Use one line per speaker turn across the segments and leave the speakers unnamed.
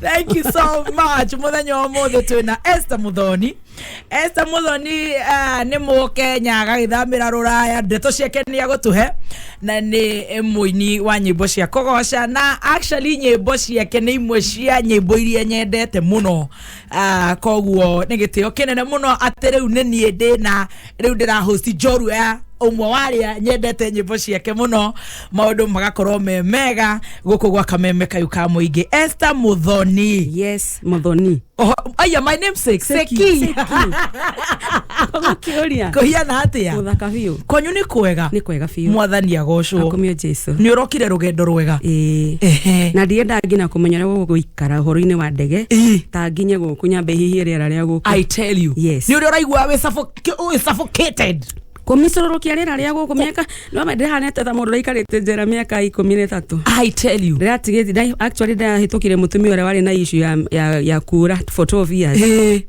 thank you so
much muthenya wa muthi twina Esther muthoni Esther muthoni uh, ni mu Kenya agagithamira ruraya ndeto ciake ni agutuhe na ni muini wa nyimbo cia kugoca na actually nyimbo ciake ni imwe cia nyimbo iria nyendete muno uh, koguo ni gitio kinene muno ati riu ni nie ndina rĩu ndĩra host njorua ya ũmwe warĩa nyendete nyĩmbo ciake mũno maũndũ magakorwo me mega gũkũ gwa kameme kayu ka mũingĩ Esther Muthoni yes muthoni
Oho, aya my
name sake Seki. Seki.
kiuria kũhiana atĩa muthaka
biu kwanyu nĩ
kwega ni
kwega biu mwathani
agocwo akumio
jesu nĩ
ũrokire rũgendo
rwega ĩĩ Ehe. na
ndiendangi na kũmenya ũrĩa gũgũikara kara ũhoro-inĩ wa ndege Ĩĩ. ta nginye gũkũ nyambe hihie rĩera rĩa gũkũ i tell you Yes. nä
å rä a å raigua wä
suffoc-
wĩ suffocated kũmicũrũrũkia
rĩera rĩa gũkũ mĩaka no me ndĩhanete ta mũndũ raikarĩte njera mĩaka ikũmi na ĩtatũ i tell you
ndĩratigĩte actually
ndahĩtũkire mũtumia ũrĩa warĩ na issue ya, ya, ya kura for 12 years Ĩĩ.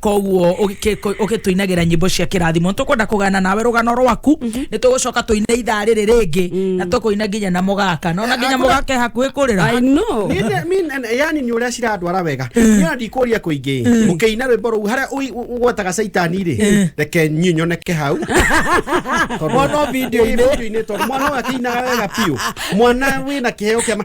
koguo ũgĩtũinagĩra nyĩmbo cia kĩrathimo nĩ tũkwenda kũgana nawe rũgano rwaku nĩ tũgũcoka tũine ithaa rĩrĩ rĩngĩ na tũkũina nginya na mũgaka nona nginya mũgaka e hakuhĩ kũrĩra I know.
Ninde- mi- na- yani nä
å rä a cirandwara wega nä andå ikå ria kå ingä må kä ina rwä mbo rå u harä a gwetaga caitani rä reke nyuä nyoneke hau Tondũ-
Mwana o video-inĩ. Ĩ, video-inĩ, tondũ mwana
å yå akä inaga wega biå mwana wä na kä heo kä ama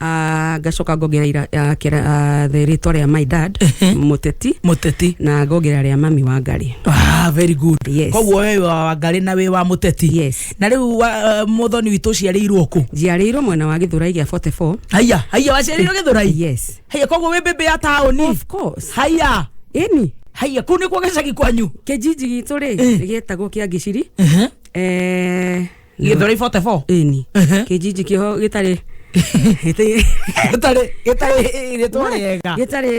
Ah, ngacoka ngongera ira- ah, kĩra- ah, the rĩtwa rĩa my dad mũteti mũteti na ngongera rĩa mami wa ngari Ah, very good
Yes. koguo we wa
wangarĩ
na wĩ wa mũteti Yes. na rĩu wa-
uh,
mũthoni witũ ũciarĩirwo kũ njiarĩirwo mwena wa gĩthũrai
gĩa 44 haiya haiya waciarĩirwo
gĩthũrai yes haiya koguo wĩ
mbĩmbĩ ya
taũni of course haiya
ĩni
haiya
kũu nĩkuo
gĩcagi kwanyu kĩnjinji gitũ rĩ
gĩetagwo kĩa ngiciri Eh,
githori 44 ĩni Ehe. kĩnjinji
kĩho gĩtarĩ gĩtarĩ- gĩtarĩ gĩtarĩ rĩtwa rĩega gĩtarĩ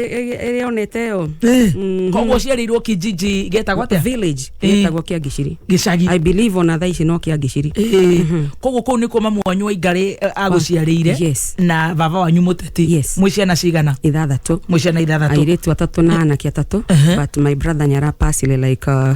rĩonete yo Mhm. koguo
ciarĩirwo kijiji getagwo atĩa village Eh. gĩtagwo
kĩa ngiciri gĩcagi i believe ona
thaa ici
no kĩa ngiciri Ĩĩ. koguo kũu
nĩkuo mamu wanyu wa ingarĩ agũciarĩire Yes. na
baba wanyu
mũteti Yes. mwĩ ciana cigana ithathatũ mwĩ ciana
ithathatũ airĩtu
atatũ na anake
atatũ Ehe. but my brother nĩ arapacile like uh,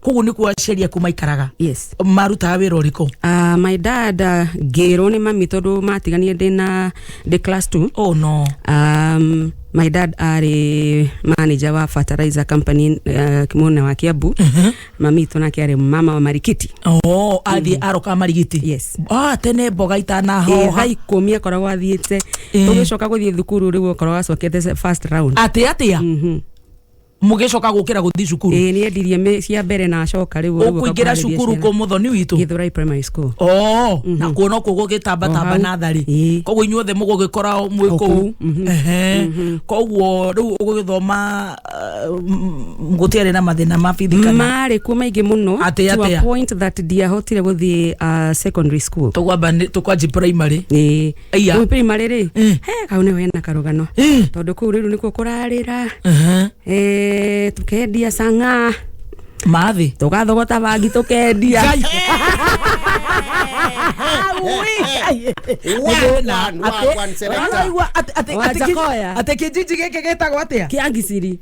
koguo
nä kuo aciari
aku maikaraga yes marutaga
wä ra å rä kå
Uh, my dad
uh, ngĩrwo nĩ mami tondũ matiganire ndĩ na ndĩ class 2 oh no um, my dad arĩ manager wa fertilizer company uh, mwena wa kiambu mami itũ nake arĩ mama wa marikiti oh, athiä
aroka marigiti Yes. ah, tene
mboga tha
itanahoha ikũmi akoragwo
athiĩte Eh. ũgĩcoka gũthiĩ thukuru rĩu ũkoragwo acokete
first
round atä atä a Mhm.
mũgĩcoka gũkĩra gũthiĩ cukuru ĩĩ nĩ endirie mĩ- cia
mbere na acoka rĩu rĩu ũkũingĩra ũkakuhanĩria cukuru ciana. kũ
mũthoni witũ Githurai primary school
oo na kuo
no kuo gũgĩtambatamba O hau. natharĩ Ĩĩ. koguo inyuothe mũgũgĩkora mwĩ O kũu kũu, mhm. Ehe. koguo rĩu ũgũgĩthoma gũtiarĩ na mathĩna ma bithi kana marĩ kuo maingĩ
mũno Atĩa, to a atĩa? point that ndiahotire gũthiĩ uh, secondary school tũkwamba nĩ- tũkwanji
primary ĩĩ Aya. Rĩu prima
rĩrĩ Eh. he kau nĩho hena karũgano Eh. tondũ kũu rĩu nĩkuo kũrarĩra Aha. eh, tũkendia cang'a mathĩ
tũgathogota bangi
tũkendia Wagwan,
wagwan, selector. atä kä njiji gä kä gä tagwo atä a kĩa ngiciri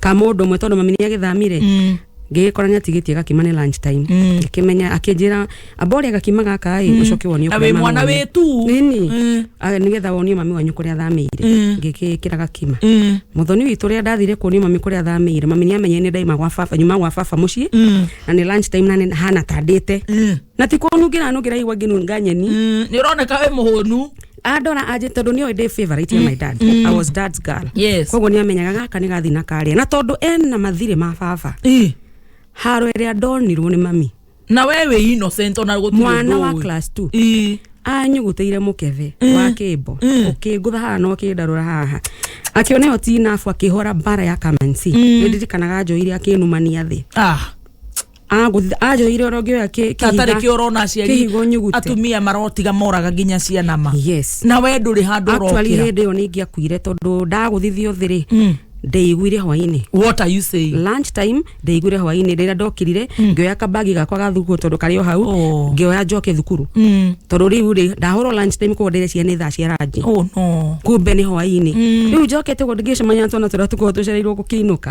ka mũndũ ũmwe tondũ mami nĩ agĩthamire Mm. ngĩgĩkora nĩ atigĩtie gakima nĩ lunch time Mm. akĩmenya akĩnjĩra amboria gakima gaka ĩ ũcoke wonio Na kũrĩa wĩ mami mwana wanyu." wĩ tu.
Nini. Mm.
Ah, nĩgetha wonio mami wanyu kũrĩa athamĩire Mm. ngĩkĩkĩra gakima Mm. mũthoni witũ ũrĩa ndathire kuonio mami kũrĩa athamĩire mami nĩ amenye nĩ ndaima gwa baba nyuma gwa baba mũciĩ Mm. na nĩ lunch time na nĩ hana tandĩte Mm. na ti kũnungĩra nungĩra igua ngĩnunga nyeni Mm, nĩ ũroneka wĩ
mũhũnu andora anjĩ
tondũ nĩoĩ ndĩ favorite ya my dad I was dad's girl Yes. koguo nĩ amenyaga gaka nĩ gathi na karĩa na tondũ ena mathirĩ ma baba Ih, haro ĩrĩa ndonirwo nĩ mami na we wĩ
innocent ona gũtirĩ mwana ũndũ wa ũĩ. class 2
Ih, anyugutĩire mũkebe wa kĩmbo ũkĩngũtha haha na ũkĩndarũra haha akĩona ĩyo tinabu akĩhora mbara ya kamansi nĩndirikanaga njoire akĩnumania thĩ ah Agũthi- anjĩrĩire ũrĩa ũngĩoya kĩ- kĩhiga- tatarä kä orona aciari
kĩhigo nyugute. atumia marotiga moraga nginya ciana ma Yes. na we ndå rä handå Actually, orokira hĩndĩ ĩyo nĩ ingĩakuire
tondå ndagũthithio thä rä ndĩiguire hwainĩ what are you saying
lunch time ndĩiguire
hwainĩ rĩrĩa ndokirire ngĩoya kambagi gakwa ga thukuru tondå karĩ o hau Oh. ngĩoya njoke thukuru Mm. tondå rä u rä ndahå lunch time koguo ndĩreciria nĩ thaa cia rangi oh no kumbe
nĩ hwainĩ
rä u njokete guo ndingĩcemania na twana tũrĩa tũkorwo tũcereirwo gũkĩinũka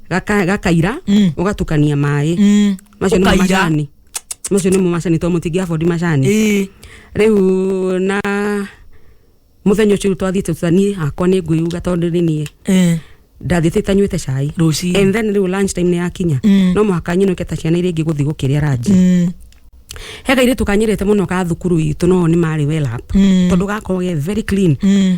gaka- gakaira Mm. ugatukania maĩ Mm. macio nimo Ũkaira. macani macio nimo macani to mutingia bodi macani Ĩĩ. riu na muthenya ucio twathiite tutani akwa ni ngwiuga tondu ni nie Eh. ndathiite tanywite cai Rũcinĩ. and then riu lunch time ni yakinya Mm. no muhaka nyinuke ta ciana iria ingi guthi gukiria ranji Mm. he kairitu kanyirite muno ka thukuru itu no ni mari well up Mm. tondu gakorwo ge very clean Mm.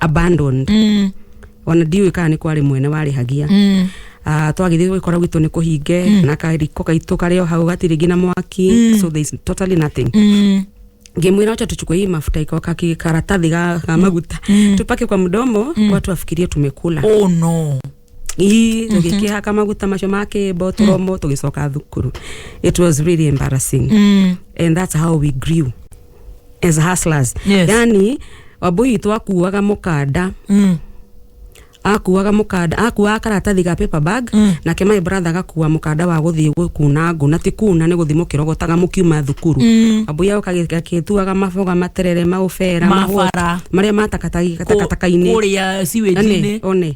abandoned Mm, ona ndiũĩ kana nĩ kwarĩ mwene warĩhagia mm, Ah, twagĩthiĩ gwĩkora gwitũ nĩ kũhinge na kariko gaitũ karĩ o hau gatirĩ nginya mwaki so there is totally nothing mm, ngimwira wacha tuchukue hii mafuta iko kaki karatathi ga, ga maguta tupake kwa mdomo watu wafikirie tumekula oh no
Ii,
tũgĩkĩhaka maguta macio ma kĩmbo tũromo tũgĩcoka thukuru it was really embarrassing Mm. and that's how we grew as hustlers Yes. yani wambui witũ akuaga mũkanda Mm. akuaga mũkanda akuaga karatathi ga paper bag Mm. nake my brother agakua mũkanda wa gũthiĩ gũkuna ngũ na ti kuna nĩ gũthiĩ mũkĩrogotaga mũkiuma thukuru Mm. wambui agoka gĩtuaga maboga materere maũbera Mabara. mahũa, marĩa matakatakainĩ Kũrĩa
sewage-inĩ. one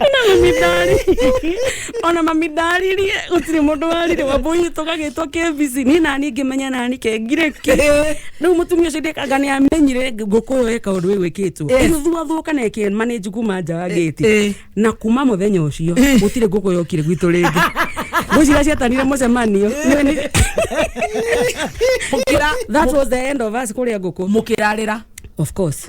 ona mami ndari ona mami ndaririe gutiri mundu warire wambui tugagitwo kebisi ni nani ngimenya nani kengire ki riu mutumia ucio ndikanga ni amenyire nguku yo eka undu uyu wikitwo Yes. igithuathuka na eke manage kuma nja wa Eh, eh. gate na kuma muthenya ucio gutire nguku yokire gwitu ringi ngwicira ciatanire mucemanio Nĩ- nĩ- mukira that was
the end
of us kuria nguku mukirarira of course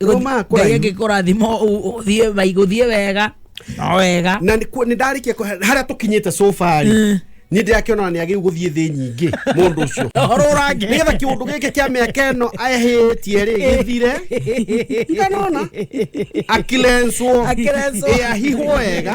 Roma kũraihu. ngai angĩkũrathima ũthiĩ maigũthiĩ wega no wega na nĩ ku- nĩ ndarĩkia
kũ- harĩa tũkinyĩte sofa rĩ niĩ ndĩrakĩona nĩ agĩu gũthiĩ thĩ nyingĩ mũndũ ũcio ũrũrange nĩgetha
kĩũndũ gĩkĩ
kĩa mĩaka ĩno ahĩtie rĩ gĩthire ndanona akilenswo Akilenswo. ĩahihwo wega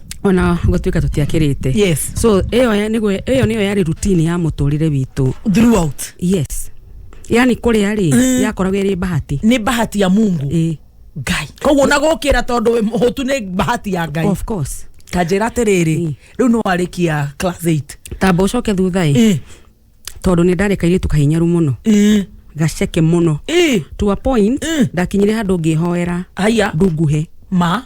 ona gũtuĩka tũtiakĩrĩte yes so ĩyo ya- nĩguo ĩyo nĩyo yarĩ rutini ya mũtũrĩre witũ throughout yes yani kũrĩa rĩ yakoragwo ĩrĩ bahati nĩ bahati ya mungu
Ĩĩ, ngai koguo na gũkĩra tondũ wĩ mũhũtu nĩ bahati ya ngai of course kanjĩra
atĩrĩrĩ
Ĩĩ. rĩu nĩ warĩkia class 8 tamba ũcoke thutha
ĩ Ĩĩ, tondũ nĩ ndarĩ kairĩtu kahinyaru mũno ĩĩ, gaceke mũno ĩĩ. to a point Mm. ndakinyire handũ ngĩhoera haya ndunguhe ma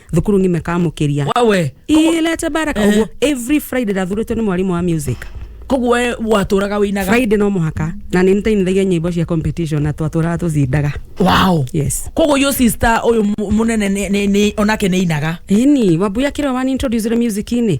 thukuru ng'ime kamũkĩria wawe ilete
baraka
ũguo every friday ndathurĩtwo nĩ mwarimũ wa music koguo we
watũraga wĩinaga friday no mũhaka
na nĩ nĩtainithagia nyĩmbo cia competition na twatũraga tũcindaga wow yes
koguo yo
sister
ũyũ mu- mũnene nĩ- nĩ- nĩ- onake nĩ inaga ini wambuya kĩrĩa
wani introduce music-inĩ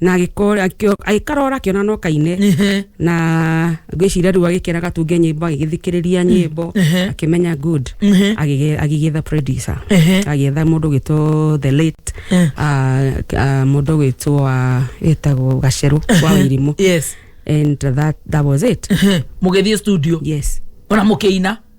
na agĩkora akĩo- agĩkarora akĩona no kaine Ehe. na ngwĩciria rĩu agĩkĩra gatunge nyĩmbo agĩgĩthikĩrĩria nyĩmbo ehe. akĩmenya good Ehe. Agĩgĩ- agĩgĩetha producer Ehe. agĩetha mũndũ gwĩtwo the late Eh. ah, ah, mũndũ gwĩtwo wa ĩtagwo gacerũ wa wĩrimũ yes and
that,
that was it Ehe. mũgĩthiĩ studio
yes ona
mũkĩina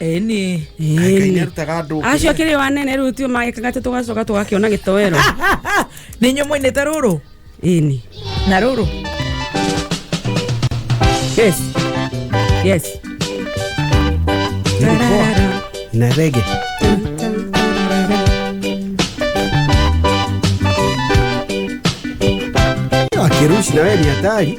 ĩĩ nĩ
ngai nä arutaga
andå acio akĩrĩ o anene rĩu tio magĩkaga tĩ tũgacoka tũgakĩona gĩtoero nä inyuä
mwainäte rå rå ĩni
na rå rå yes yes
na rege akirushi nawe ni hatari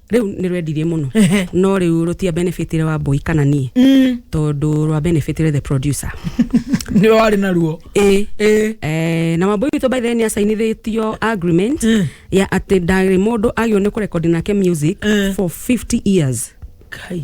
rĩu nĩ rwendirie
mũno Ehe. no rĩu rũtia benefit wa boy kana niĩ tondũ rwa benefit the producer nĩ warĩ
naruo ĩ ĩ Eh,
na wambui witå by then nä acainithätio agreement Mm. ya atä ndarä må ndå agä nä kå rekondi nake music
Mm.
for 50 years kai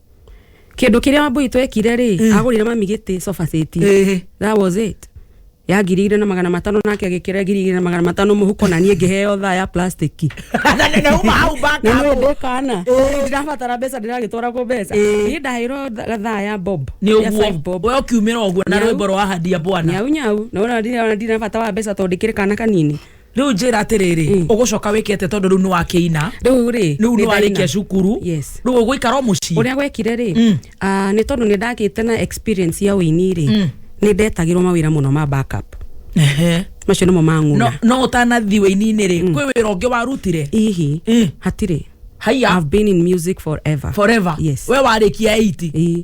kĩndũ kĩrĩa wambui twekire rĩ agũrire mami gĩtĩ sofa set Ĩhĩ. that was it ya ngiri igĩrĩ na magana matano nake agĩkĩra ngiri igĩrĩ na magana matano mũhuko na niĩ ngĩheo thaa ya plastic na uma
hau na baka nĩ ndĩ kana
Ĩĩ. ndirabatara mbeca ndĩragĩtwaragwo mbeca Ĩĩ. niĩ ndahĩirwo tha- thaa ya bob nä ya five bob ũguo we
å kiumä ra å guo na Nyau. rwä mbo rwa handia bwana nyau nyau na ona ndira-
ona ndirabata wa mbeca tondå ndä kä rä kana kanini rĩu njĩra atĩrĩrĩ
Mm. ũgũcoka wĩke atĩa tondũ rĩu nĩ wakĩina rĩu rĩ rĩu nĩ nĩ warĩkia ndaina. cukuru Yes. rĩu ũgũikara o mũciĩ ũrĩa gwekire rĩ Mm.
ah, nĩ tondũ nĩ ndagĩte na experience ya ũini rĩ Mm. nĩ ndetagĩrwo mawĩra mũno ma backup Ehe. macio nĩmo no mang'una no ũtanathi
wĩininĩ rĩ kwĩ wĩra ũngĩ warutire ihi Mm.
hatirĩ haiya I've been
in music
forever forever Yes. we warĩkia 8 Ĩĩ.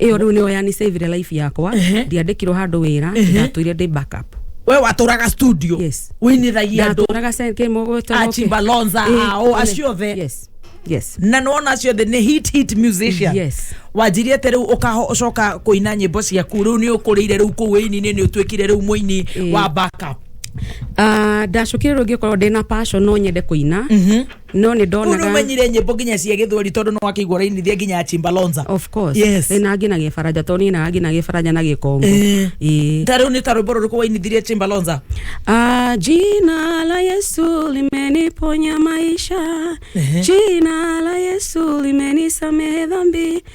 ĩyo rĩu nĩyo yanisavire life yakwa Ehe. ndiandĩkirwo handũ wĩra ndatũire ndĩ backup we watũraga
studio Yes. wĩinĩragia
andũ ndatũraga
seke mũgweta
achimba lonza
ao acio othe yes yes na
nona acio othe
nĩ hit hit musician Yes. wanjirie
atĩ rĩu
ũkaho ũcoka kũina nyĩmbo ciaku rĩu nĩ ũkũrĩire rĩu kũu wĩini-inĩ nĩ ũtuĩkire rĩu mũini Ĩĩ. wa backup Ah,
ndacokire rĩu ngĩkorwo ndĩna passion no nyende kũina no nä ndonaga urumenyire nyimbo nginya cia
githweri tondu no akigwo rainithia nginya ya chimbalonza of course Yes. Ĩ,
na nginagia
baranja to
niä naga nginagia baranja na gä kongo Eh. Ĩ. ta riu
ni ta rwimbo ruriku wainithirie chimbalonza Ah, jina
la Yesu limeniponya maisha, jina la Yesu limenisamehe dhambi,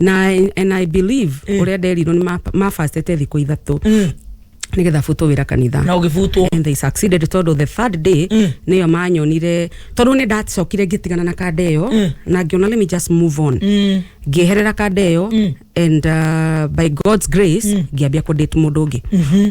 na and i believe Eh. uria nderirwo ni mafastete thiku ithatu Mm. nigetha butwo wira kanitha na ũgĩbutwo and they
succeeded tondu
the third day Mm. niyo manyonire tondu ni ndacokire ngitigana na kanda iyo Mm. na ngiona let me just move on Mm. ngieherera kanda iyo Mm. and uh, by god's grace ngiambia kudate mundu ungi Mhm.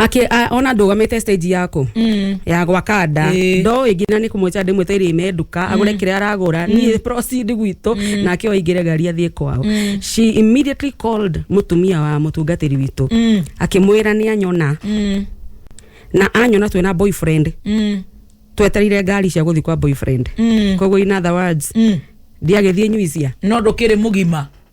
Aki, a, ona ndũgamĩte stage yako mm. ya gwaka nda Ĩĩ. ndo ĩngĩ na nĩ kũmweca ndĩmwe tairĩ ime nduka agũre kĩrĩa aragũra niĩ proceed gwitũ nake oingĩre ngari athiĩ kwao she immediately called mũtumia wa mũtungatĩri witũ Mm. akĩmwĩra nĩ anyona Mm. na anyona twĩ na boyfriend Mm. tweterire ngari cia gũthiĩ kwa boyfriend Mm. koguo in other words Mm. ndiagĩthiĩ nyuisia no ndũkĩrĩ mũgima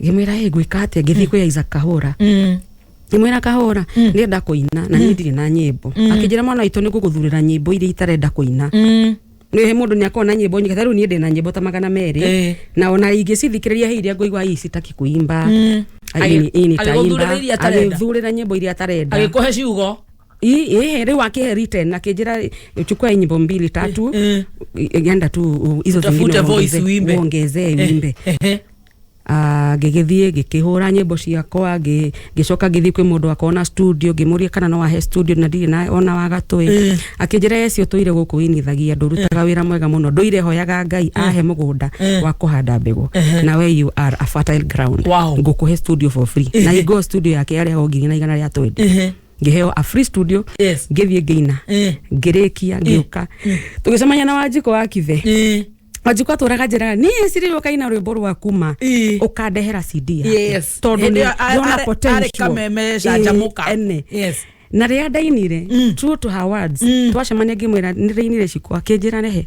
ngĩmwĩra ĩ ngwĩka atĩa ngĩthiĩ kwĩ Isaac Kahũra Mm. ngĩmwĩra kahũra ndĩrenda kũina na niĩ ndirĩ na nyĩmbo akĩnjĩra mwana witũ nĩ ngũgũthurĩra nyĩmbo iria itarenda kũina Mm. nä må ndå nä akorwo na nyä mbo nyingä rä u niä ndä na nyä mbo ta magana merä Ĩĩ. na ona ingä cithikirä ria hä iria ngåigua hii citaki kuimba Mm. Agĩ- agĩgũthurĩra iria atarenda. agäthurä ra nyä mbo iria atarenda Agĩkũhe ciugo.
Hii hii riu
akihe written akijira chukua hii nyimbo mbili tatu Eh, eh. enda tu uh, hizo Utafute zingine voice uongeze- uimbe. uongezee Eh, uimbe eh, eh. Ah, ngĩgĩthiĩ ngĩkĩhũra nyĩmbo ciakwa ngĩ- ngĩcoka ngĩthiĩ kwĩ mũndũ akona studio ngĩmũria kana no ahe studio na ndirĩ na ona wa gatũĩ Eh. akĩnjĩra ecio tũire gũkũ inithagia ndũrutaga wĩra mwega mũno ndũire hoyaga ngai ahe mũgũnda Eh. wa kũhanda mbegũ Ehe. na we you are a fertile ground Wow. ngũkũhe studio for free na Ehe. ingoo studio yake yarĩ ho ngiri na igana rĩa twendi Ehe. ngĩheo a free studio Yes. ngĩthiĩ ngĩina Eh. ngĩrĩkia ngĩũka tũgĩcemania na wanjiko wa kithe Eh. wanjiko atũraga njĩraga niĩ siri ũkaina rwĩmbo rwa kuma Eh. ũkandehera cd yake. Yes. tondũ Hĩndĩ
ĩyo a- ndona arĩ-
potential. arĩ kameme Eh, canjamũka.
ene. Yes. na rĩrĩa ndainire
true to her words twacemania ngĩmwĩra nĩ ndainire cikwa kĩnjĩra rehe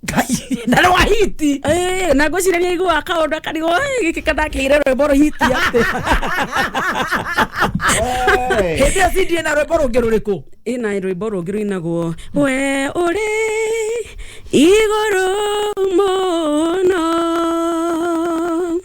ngai
na rwa hiti Eh, na ngwĩciraria
igua kaũndũ akarigwo "Ĩ, gĩkĩ kandakĩire rwĩmbo rũhiti atĩ
hĩndĩ ĩyo cindie na rwĩmbo rũngĩ rũrĩkũ ĩna rwĩmbo rũngĩ
rũinagwo we ũrĩ igũrũ mũno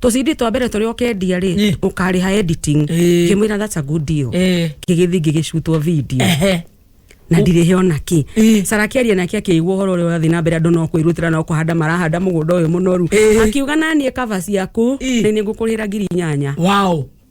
tũcindi twa mbere tũrĩa ũkendia rĩ Ĩ. ũkarĩha editing Ĩ. ngĩmwĩra that's a good deal Eh. ngĩgĩthiĩ ngĩgĩcutwo video Ehe. na ndirĩ he ona kĩ Ĩ. sara akĩaria nake akĩigua ũhoro ũrĩa ũrathiĩ na mbere andũ no kwĩrutĩra no kũhanda marahanda mũgũnda ũyũ mũnoru Ĩ. akiuga naniĩ kaba ciaku Ĩ. nĩ nĩ ngũkũrĩra ngiri inyanya Wow.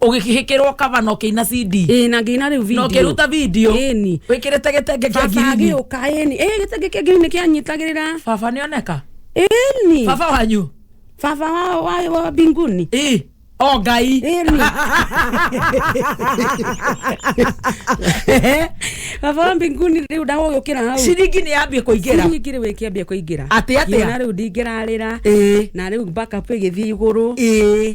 ũgĩkĩhĩkĩrwo kaba
na ũkĩina cd ĩĩ na ngĩina rĩu na video
ũkĩruta video
Ĩni. wĩkĩrĩte gĩtenge kĩa baba ngirini agĩũka ĩni ĩĩ
gĩtenge kĩa ngirini kĩanyitagĩrĩra baba nĩoneka
ĩni baba
wanyu
baba wa-
wa- wa mbinguni ĩ o ngai
ĩni
baba wa mbinguni rĩu ndagũgĩũkĩra hau ciringi nĩ yambie kũingĩra
nyingĩ rĩu ĩkĩambia
kũingĩra Atĩ atĩa? Ngĩona rĩu
ndingĩrarĩra
ĩĩ na rĩu backup ĩgĩthiĩ igũrũ ĩĩ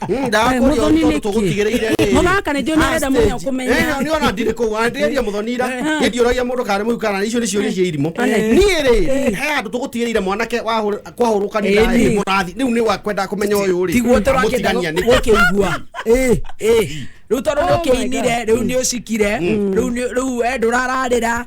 Hmm, ndakũria ũndũ tũgũtigĩrĩire mũthaka nĩ ndĩona arenda mũno kũmenya eh, nĩ ona ndirĩ kũu
andĩria mũthonira eh. hĩndĩ ũragia mũndũ karĩ mũu kana icio nĩ ciũria cia irimũ eh. niĩ rĩ he andũ tũgũtigĩrĩire mwanake kwahũrũkanira mũrathi rĩu nĩ wakwenda kũmenya ũyũ rĩ tiguo tũrakĩenda
gũkĩigua rä u tondå nä å kä inire rä u nä å cikire rä u ndå rararä ra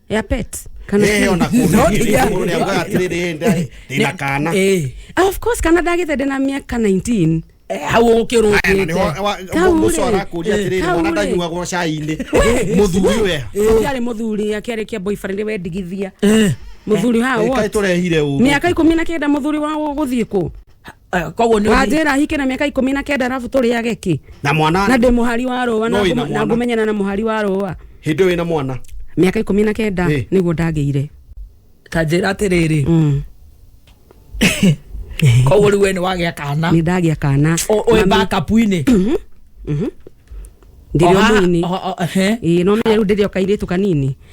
ya pet kana Eh, ona No, kuuga nĩ
kĩrĩa. mũndũ nĩaugaga atĩrĩ, "Rĩrĩ, nda- ndĩna kana." Eh. Ah, of course
kana ndagĩte ndĩna mĩaka 19 Eh, hau Aya, na
ũkĩrũkĩte nĩho- wa- Kau mũndũ ũcio
rĩ. arakũria Eh, atĩrĩrĩ, kau mwana rĩ. ndanyuagwo cai-inĩ mũthuri we kĩarĩ mũthuri
akĩarĩ kĩa boyfriend we ndigithia mũthuri haha Kaĩ what? tũrehire ũru
mĩaka ikũmi na kenda mũthuri
wa gũthiĩ kũ Eh, koguo nĩ
wanjĩra ahike na mĩaka ikũmi
na kenda arabu tũrĩage kĩ na mwana na ndĩ
mũhari wa rũa
na No ina ngũma- na mwana. ngũmenyana na mũhari wa rũa hĩndĩ wĩna mwana
mĩaka ikũmi na kenda
Eh. nĩguo ndagĩire ta njĩra
atĩrĩrĩ Mm. koguo rĩu we nĩ wagĩa kana nĩ ndagĩa
kana
Ũ- ũĩ Mami- bakapu-inĩ ndĩrĩ
O haha- ũmũini o- o- ehe. ĩĩ no menye rĩu ndĩrĩ o kairĩtu kanini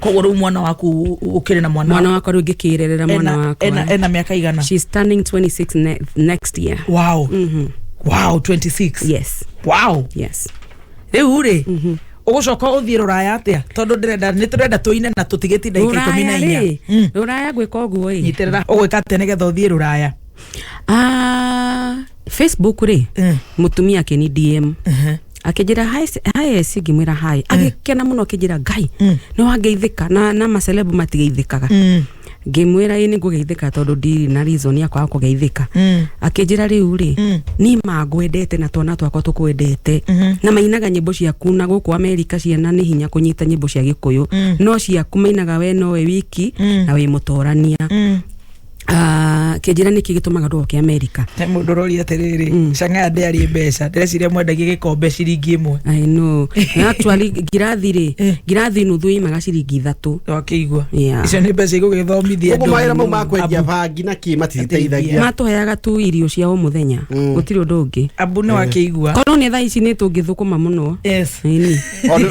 koguo rĩu mwana waku
ũkĩrĩ na mwana mwana wakwa rä u ngä kä rerera
mwana ena, wakwa ena, ena mĩaka igana
She's turning 26
ne next year wow
wow 26 yes wow
yes rĩu rĩ
ũgũcoka ũthiĩ rũraya atĩa tondũ ndĩrenda nĩ tũrenda tũine na tũtigĩti ndagika ikũmi na ruraya inya rä Mm. ruraya ngwä ka å guo
ä nyitĩrĩra ũgwĩka atĩa
nĩgetha ũthiĩ rũraya
facebook rä Mm. må tumia akä ni dm akĩnjĩra hi s- hi s ngĩmwĩra hi agĩkena mũno akĩnjĩra ngai Mm. nĩ wangeithĩka na, na macelebu matigeithĩkaga Mm. ngĩmwĩra ĩ nĩ ngũgeithĩka tondũ ndirĩ na reason ya kwaga kũgeithĩka Mm. akĩnjĩra rĩu rĩ Mm. niĩ mangwendete na twana twakwa tũkwendete Mhm. na mainaga nyĩmbo ciaku na gũkũ amerika ciana nĩ hinya kũnyita nyĩmbo cia gĩkũyũ Mm. no ciaku mainaga we nowe wiki Mm. na wĩ mũtorania Mm. Ah, kĩnjĩra nĩkĩ gĩtũmaga andũ oke amerika he mũndũ ũroria atĩrĩrĩ
Mm. cang'aya ndĩarĩ mbeca ndĩreciria mwendagia gĩkombe ciringi ĩmwe I know. Na
actually ngirathi rĩ Eh. ngirathi nuthu imaga ciringi ithatũ wakĩigua Yeah.
icio nĩ mbeca igũgĩthomithia Ũguo mawĩra mau ma kwendia
Abu- bangi na kĩ matiteithagia matũheaga tu irio
cia o mũthenya Mm. gũtirĩ ũndũ ũngĩ abu nĩ wakĩigua
korwo nĩ thaa ici nĩ
tũngĩthũkũma mũno yes Ĩni.
Ona-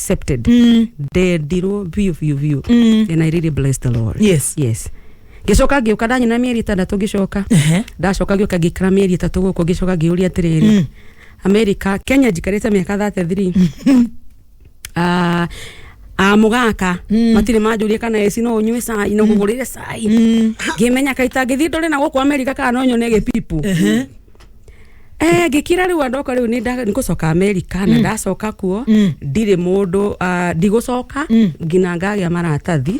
accepted ndendirwo biũ biũ biũ and i really bless the lord Yes. yes ngĩcoka ngĩũka ndanyina mĩeri ĩtandatũ ngĩcoka Ehe. ndacoka ngĩũka ngĩikara mĩeri ĩtatũ gũkũ ngĩcoka ngĩũria atĩrĩrĩ amerika kenya njikarĩte mĩaka thate thiri Ah, ah, mũgaka matirĩ manjũria kana eci no ũnyue cai no ngũgũrĩre cai ngĩmenya kaita ngĩthiĩ ndore na gũkũ amerika kana no nyone gĩpipu Eh, ngĩkira rĩu andoka rĩu nĩ ngũcoka amerika na ndacoka kuo ndirĩ mũndũ ah, ndigũcoka nginya ngagĩa maratathi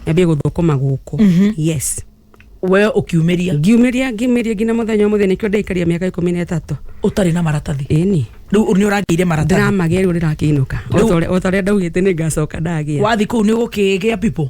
nyambie gũthũkũma gũkũ yes we
ũkiumĩria ngiumĩria ngiumĩria nginya
mũthenya ũmũthĩ nĩkĩo ndaikaria mĩaka ikũmi na ĩtatũ ũtarĩ na maratathi
ĩni rĩu nĩ
ũragĩire
maratathi ndĩramagĩa rĩu ndĩrakĩinũka
Rĩu- otorĩa ndaugĩte nĩ ngacoka ndagĩa wathiĩ kũu nĩ ũgũkĩgĩa
pipo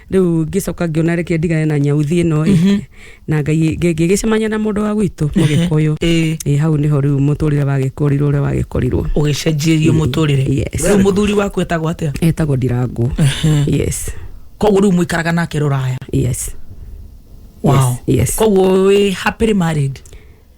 rĩu ngĩcoka ngĩona reke ndigane na nyauthi ĩno ĩ Mhm. na ngai ngĩgĩcemania na mũndũ wa gwitũ mũgĩkũyũ Ĩĩ. ĩ hau nĩho rĩu mũtũrĩre wagĩkorirwo ũrĩa wagĩkorirwo ũgĩcenjirio
mũtũrĩre Yes. rĩu mũthuri waku etagwo atĩa etagwo ndirangũ
yes koguo rĩu
mũikaraga nake rũraya yes
wow.
yes, yes. koguo
wĩ happily
married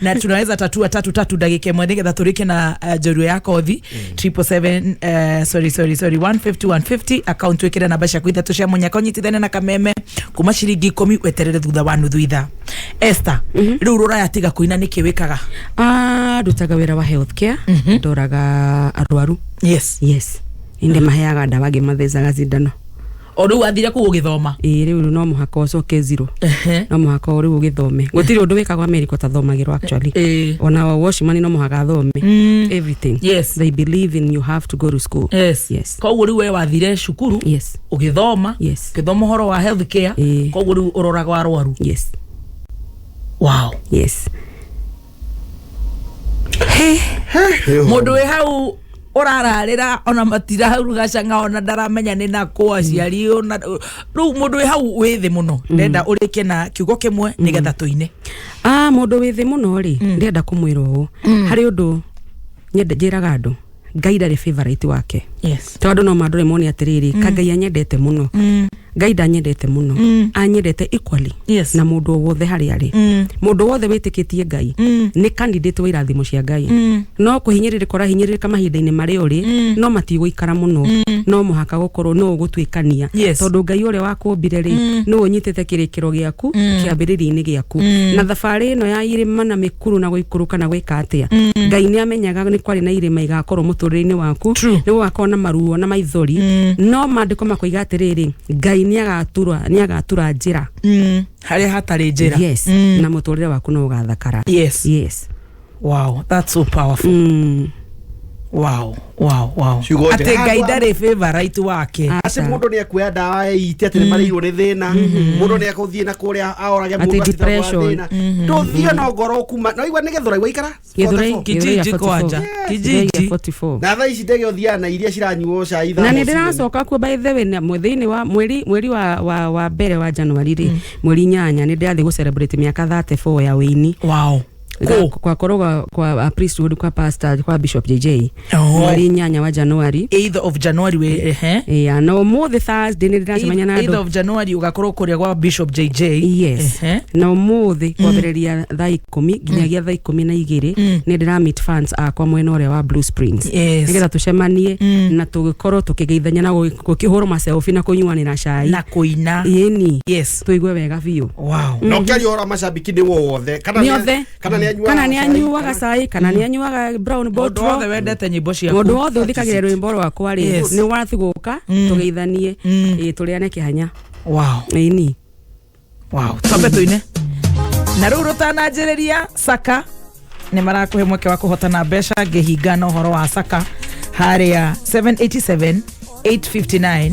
na tunaweza tatua tatu tatu ndagika imwe nigetha tũrĩke na uh, njorua ya kothi triple seven uh, sorry sorry sorry 150 150 account wĩkĩre namba ciaku ithatũ cia mũnyaka ũnyitithane na kameme kuma ciringi ikũmi weterere thutha wa nuthu itha Esther rĩu rũraya tiga kũina nĩkĩ wĩkaga Ah, ndutaga
wĩra wa health care ndoraga arwaru yes yes
inde
maheaga ndawa ngĩmathecaga cindano o rä u athire
kå gå gä thoma ĩĩ rĩu no mũhaka
ũcoke zero Ehe. no mũhaka rĩu ũgĩthome gũtirĩ ũndũ wĩkagwo amerika ũtathomagĩrwo actually Ĩĩ. ona wa washman no mũhaka athome everything Yes. they believe
in you
have to go to school Yes. yes koguo rä u we wathire
cukuru yes å gä thoma Yes. å gä thoma å horo wa health care Ĩĩ. koguo rä u å roraga arwaru yes wow yes mundu wi hau urararira ona matiraruga canga ona ndaramenya ni nakwa aciari ona riu mundu wi hau wi thi muno ndenda urikie na kiugo kimwe nigetha tuine ah mundu wĩ
thĩ mũno rĩ ndĩrenda kũmwĩra ũũ harĩ ũndũ nyende njĩraga andũ ngai ndarĩ favorite wake yes tondũ no mandore
mone
atĩrĩrĩ mm. kangai anyendete mũno mm. ngai ndanyendete mũno mm. anyendete equally Yes. na mũndũ o wothe
harĩa
arĩ Mm. mũndũ wothe wĩtĩkĩtie ngai Mm. nĩ candidate wa irathimo cia ngai Mm. no kũhinyĩrĩrĩka ũrahinyĩrĩrĩka mahinda-inĩ marĩa ũrĩ Mm. no matigũikara mũno Mm. no mũhaka gũkorwo no ũgũtuĩkania Yes. tondũ ngai ũrĩa wakũmbire rĩ Mm. nĩ ũnyitĩte kĩrĩkĩro gĩaku Mm. kĩambĩrĩria-inĩ gĩaku Mm. na thabarĩ ĩno ya irĩma na mĩkuru na gũikũrũka na gwĩka atĩa Mm. ngai nĩ ame- menyaga nĩ kwarĩ na irĩma igakorwo mũtũrĩre-inĩ waku True. nĩ gũgakorwo na maruo na maithori no maandĩko makoiga atĩrĩrĩ ngai nĩ agatura nĩ agatura njĩra Mm, harĩa
hatarĩ njĩra yes Mm, na mũtũrĩre
waku no ũgathakara yes yes wow
that's so powerful mm. wow wow wow Ciugo njega. atĩ ngai ndarĩ favorite wake Aca. aci mundu ni ekuoya
ndawa ite atä nä marĩirwo nä thä na mundu nä ekå thiä na kå rä a aorage Atĩ depression.
ndå thiä no
ngoro kuma no igua nä gethå raigua ikara Githurai- Githurai kijiji ya 44.
kwanja Githurai ya kijiji 44. na thaa ici
ndege ũthiaga
na iria ciranyuo cai na nä ndä racoka kuo
by the way na- mwe- thĩinĩ wa mweri mweri wa, wa, wa mbere wa januari rĩ mweri inyanya nä ndä rathiä gå celebrate mä aka 34 ya wä ini wow Ga-
kwa korwo
kwa, kwa uh, priesthood kwa pastor kwa bishop jj Oh. mweri inyanya wa januari 8th of january we
ehe ya na umuthi
thursday nä ndä racemania na 8th andå of january ugakorwo
kuria gwa bishop jj yes Ehe.
na umuthi kwambĩrĩria thaa ikũmi nginyagia thaa ikũmi na igĩrĩ nĩ ndĩramit fans akwa mwena ũrĩa wa blue springs Yes. nĩgetha tũcemanie na tũgĩkorwo tũkĩgeithania na gũgĩ- gũkĩhũrwo maselfi na kũnyuanĩra cai na kuina
yeni yes tũigue wega biũ
wow na ukiaria hora
mashabiki ni wothe kana Nĩ othe.
kana nĩ anyuaga kana nĩ cai, anyuaga kana- cai kana nĩ anyuaga brown Mũndũ bottle wothe wendete nyĩmbo ciaku.
mũndũ wothe ũthikagĩrĩra rwĩmbo
rwakwa rĩ Yes. nĩ wathigũka Mm. tũgeithanie Mm. ĩ, tũrĩane kĩhanya Wow, ĩni wow.
Twambe tũine. Na rĩu rũtananjĩrĩria Saka nĩ marakũhe mweke wa kũhotana mbeca ngĩhinga na ũhoro wa Saka harĩa 787 859